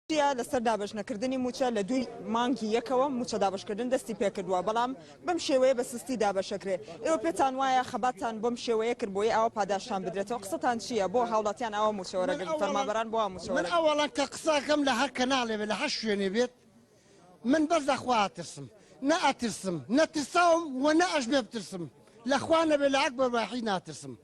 تورکیا لەسەر دابەشنەکردنی مووچە لە دووی مانگی یەکەوە مووچە دابەشکردن دەستی پێکردووە، بەڵام بەم شێوەیە بە سستی دابەشەکرێ. ئێوە پێتان وایە خەباتتان بەم شێوەیە کرد بۆیە ئاوا پاداشتان بدرێتەوە؟ قسەتان چییە؟ بۆ هاوڵاتیان ئاوا مووچە وەرەگرن؟ فەرمانبەران بۆ وا مووچە وەرەگرن؟ من ئەوەڵا کە قسەکەم لە هەر کەناڵێ بێت لە هەر شوێنێ بێت من بەس لە خوا ئەترسم نە ئەترسم نەترساوم وە نە ئەشبێ بترسم لە خوا نەبێ لە ئەکبەر واحید ناترسم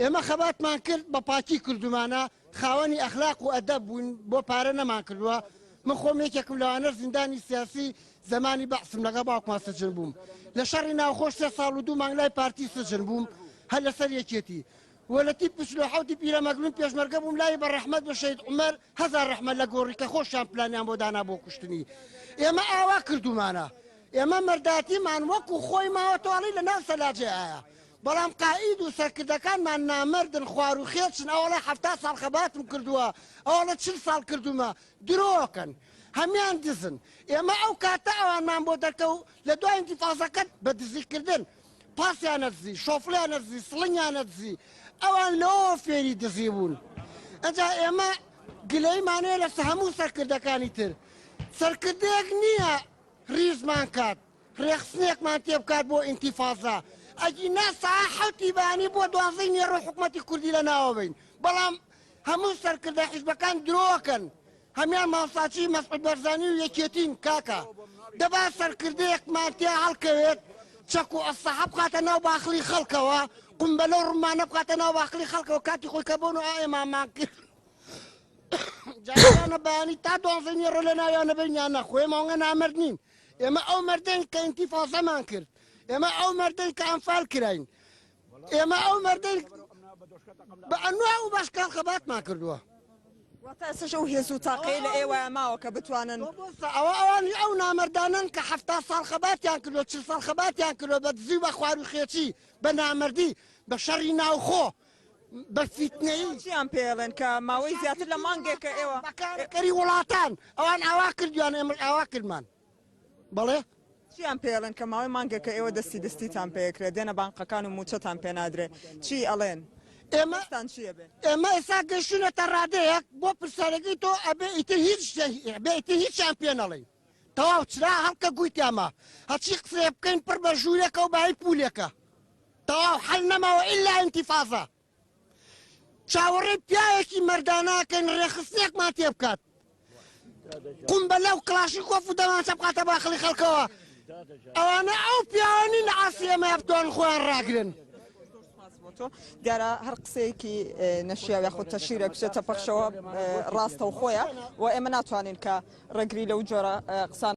ئێمە خەباتمان کرد بە پاکی کردومانە خاوەنی ئەخلاق و ئەدەب بووین بۆ پارە نەمان کردوە من خۆم یەکێکم لەوانەش زیندانی سیاسی زەمانی بەعسم لەگەڵ باوکمان سجن بووم لە شەڕی ناوخۆ سێ ساڵ و دوو مانگ لای پارتی سجن بووم هەر لەسەر یەکێتی و لە تیپ پچل و حەوتی پیرەمەگرون پێشمەرگە بووم لای بە ڕەحمەت بە شەهید عومەر هەزار ڕەحمەت لە گۆڕی کە خۆشیان پلانیان بۆ دانا بۆ کوشتنی ئێمە ئاوا کردومانە ئێمە مەرداتیمان وەکو خۆی ماوە تۆڵی لە ناو سەلاجێ ئایا بەڵام قائید و سەرکردەکانمان نامەردن خوار و خێچن ئەوەڵێ حەفتا ساڵ خەباتم کردووە ئەوەڵێ چل ساڵ کردوومە درۆکەن هەمیان دزن ئێمە ئەو کاتە ئەوانمان بۆ دەرکەو لە دوای ئینتیفازەکە بە دزی کردن پاسیانە دزی شۆفلیانە دزی سڵنگیانە دزی ئەوان لەوە فێری دزی بوون ئەجا ئێمە گلەیمانەیە لەسە هەموو سەرکردەکانی تر سەرکردەیەک نییە ریزمان کات ڕێخستنێکمان تێبکات بۆ ئینتیفازە ئەگینا سەعە حەوتی بەیانی بۆ دوانزەی نێڕۆ حکومەتی کوردی لەناوە بەین بەڵام هەموو سەرکردە حیزبەکان درۆکەن هەمیان ماڵساچی مەسعود بەرزانی و یەکێتین کاکە دەبا سەرکردەیەکمان تیا هەڵکەوێت چەک و ئەسەحە بخاتە ناو باخڵی خەڵکەوە قمبەلە و ڕمانە بخاتە ناو باخڵی خەڵکەوە کاتی خۆی کە بۆن و ئێمامان کرد جارانە بەیانی تا دوانزەی نێڕۆ لە ناویانە بینیان نەخۆێمەوەگە نامرد نین ئێمە ئەو مەردەین کە ئینتیفازەمان کرد، ئێمە ئەو مەردەین کە ئەنفال کراین، ئێمە ئەو مەردەین بە ئەنواع و بەشکال خەباتمان کردووە. واتە ئێستەش ئەو هێز و تاقەیە لە ئێوەیا ماوە کە بتوانن. مامۆستا ئەوە ئەوانی ئەو نامەردانەن کە حەفتا ساڵ خەباتیان کردووە، چل ساڵ خەباتیان کردووە بە دزی و بە خواروخێچی، بە نامەردی، بە شەڕی ناوخۆ، بە فیتنەیی. ئەوە چیان پێ ئەڵێن کە ماوەی زیاتر لە مانگێکە ئێوە. بەکارەکەری وڵاتان ئەوان ئاوا کردویان ئێمەش ئاوا کردمان بەڵێ. چیان پێ ئەڵێن کە ماوەی مانگێکە ئێوە دەستی دەستیتان پێ ئەکرێ دێنە بانقەکان و موچەتان پێ نادرێ چی ئەڵێن ئێمە هەستان چیە بێ. ئێمە ئێستا گەشتونەتە ڕادەیەک بۆ پرسیارەکەی تۆ ئەبێ ئیتر هیچ ئەبێ ئیتر هیچیان پێ نەڵێین تەواو چرا هەڵکە گووی تیاما هەرچی قسەیە بکەین پڕ بە ژوورێکە و بای پولێکە. تەواو حەل نەماوە ئیلا ئینتیفازە. چاوەڕێی پیاوێکی مەرداناکەین ڕێکخستنێکمان تێ بکات. قومبەلە و کڵاشینکۆف و دەمانچە بخاتە باخەڵی خەڵکەوە. ئەوانە ئەو پیاوە نین لە عەسی ئێمەیا بتوانن خۆیان ڕاگرن. تۆ دیارە هەر قسەیەکی نەشیاو یاخود تەشیرە بچێتە پەخشەوە ڕاستەوخۆیە و ئێمە ناتوانین کە ڕێگری لەو جۆرە قسان